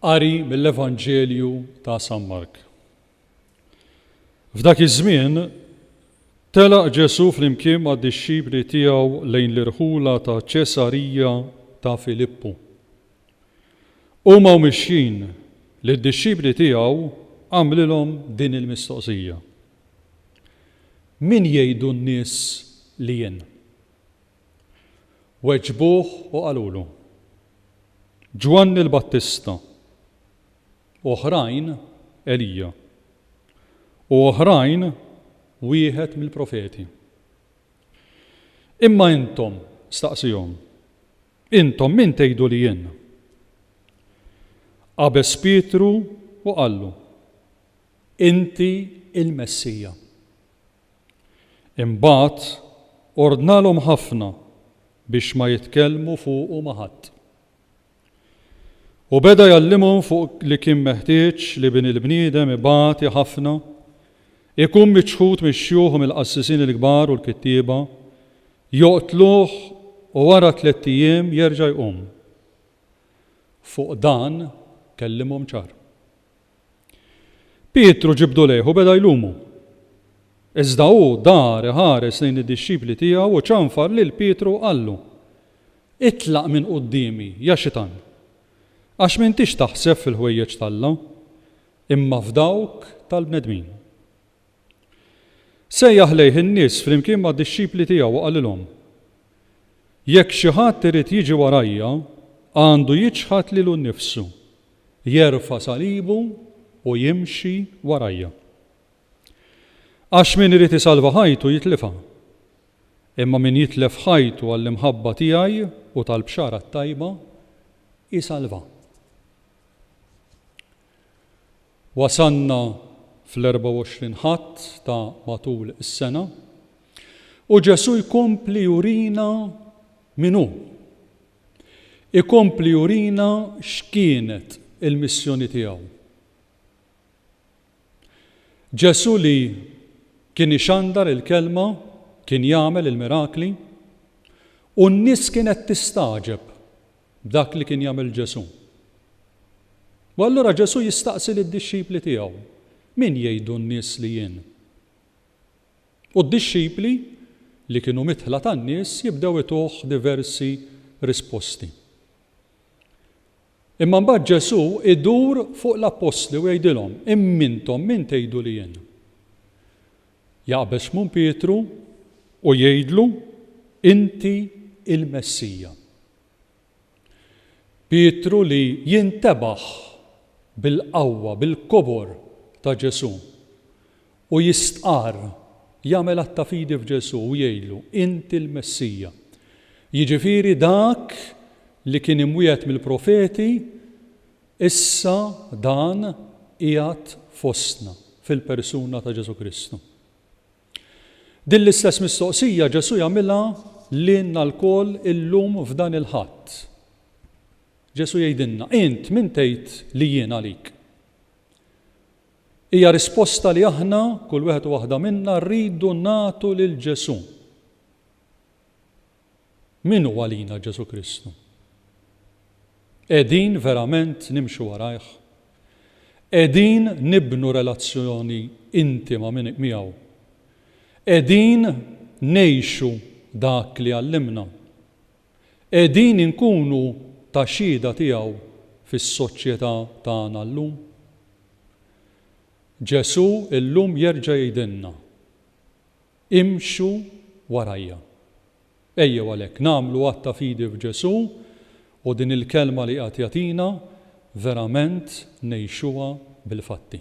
Qari mill-Evanġelju ta' San Mark. F'dak iż-żmien telaq Ġesù flimkien mad-dixxipli tiegħu lejn l-irħula ta' Ċesarija ta' Filippu. Huma u mixjin li d-dixxipli tiegħu għamlilhom din il-mistoqsija. Min jgħidu n-nies li jien? Weġbuh u qalulu, Ġwanni l-Battista, oħrajn, Elija, u oħrajn, wieħed mill-profeti. Imma intom, staqsihom, intom min tgħidu li jien? Qabeż Pietru u qallu, Inti l-Messija. Imbagħad ordnalhom ħafna biex ma jitkellmu fuqu ma' ħadd. U beda jgħallimhom fuq li kien meħtieġ li Bin il-bniedem ibati ħafna, ikun miċħud mix-xjuħ u mill-qassisin il-kbar u l-kittieba, joqtluh u wara tlett ijiem jerġa' jqum. Fuq dan kellimhom ċar. Pietru ġibdu lejh u beda jlumu. Iżda hu dar iħares lejn id-dixxipli tiegħu u ċanfar lil Pietru u qallu, Itlaq minn quddiemi, ja Xitan! Għax m'intix taħseb fil-ħwejjeġ t'Alla, imma f'dawk tal-bnedmin. Sejjaħ lejh in-nies flimkien mad-dixxipli tiegħu u qalilhom, Jekk xi ħadd irid jiġi warajja, għandu jiċħad lilu nnifsu, jerfa' salibu u jimxi warajja. Għax min irid isalva ħajtu jitlifha, imma min jitlef ħajtu għall-imħabba tiegħi u tal-Bxara t-Tajba, isalvha. Wasalna fl-24 Ħadd ta' matul is-sena u Ġesù jkompli jurina min hu. ikompli jurina x'kienet il-missjoni tiegħu. Ġesù li kien ixandar il-Kelma, kien jagħmel il-mirakli, u n-nies kienet tistagħġeb b'dak li kien jagħmel Ġesù. U allura Ġesù jistaqsi lid-dixxipli tiegħu, Min jgħidu n-nies li jien? u d-dixxipli, li kienu midħla tan-nies, jibdew ituh diversi risposti. Imma mbagħad Ġesù jdur fuq l-appostli u jgħidilhom, Imma intom min tgħidu li jien? Jaqbeż Xmun Pietru u jgħidlu, Inti l-Messija. Pietru li jintebaħ bil-qawwa, bil-kobor ta' Ġesù u jistqarr, jagħmel att ta' fidi f'Ġesù u jgħidlu, Inti l-Messija, jiġifieri dak li kien imwiegħed mill-profeti, issa dan qiegħed fostna fil-persuna ta' Ġesù Kristu. Din l-istess mistoqsija Ġesù jagħmilha lilna lkoll illum f'dan il-Ħadd. Ġesù jgħidilna, Int min tgħid li jien għalik? Hija risposta li aħna, kull wieħed u waħda minna, rridu nagħtu lil Ġesù. Min hu għalina Ġesù Kristu? Qegħdin verament nimxu warajh? Qegħdin nibnu relazzjoni intima miegħu? Qegħdin ngħixu dak li għallimna? Qegħdin inkunu ta' xhieda tiegħu fis-soċjetà tagħna llum? Ġesù llum jerġa' jgħidilna, Imxu warajja. Ejjew għalhekk nagħmlu att ta' fidi f'Ġesù u din il-kelma li qiegħed jagħtina verament ngħixuha bil-fatti.